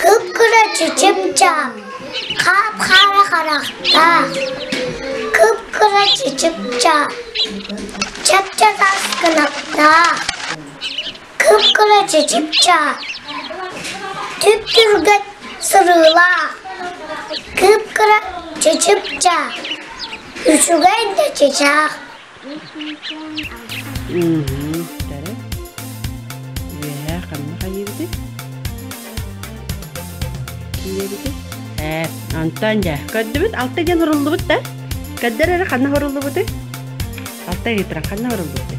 Кып-кыраччы чыпчаал, хаап-хаара харахтаах, кып-кыраччы чыпчаал, чапчатас кынаттаах, кып-кыраччы чыпчаал, түп-түргэн сырыылаах, кып-кыраччы чыпчаал, үчүгэй да чычаах Үһү, бары. Үөһээ ханна хайыыбытый? Киирэбитий? Ээ, онтон дьэ, көрдүбүт, алта диэн уруллубут да? Көрдөр эрэ ханна уруллубутуй? Алта ыытыран ханна уруллубутуй?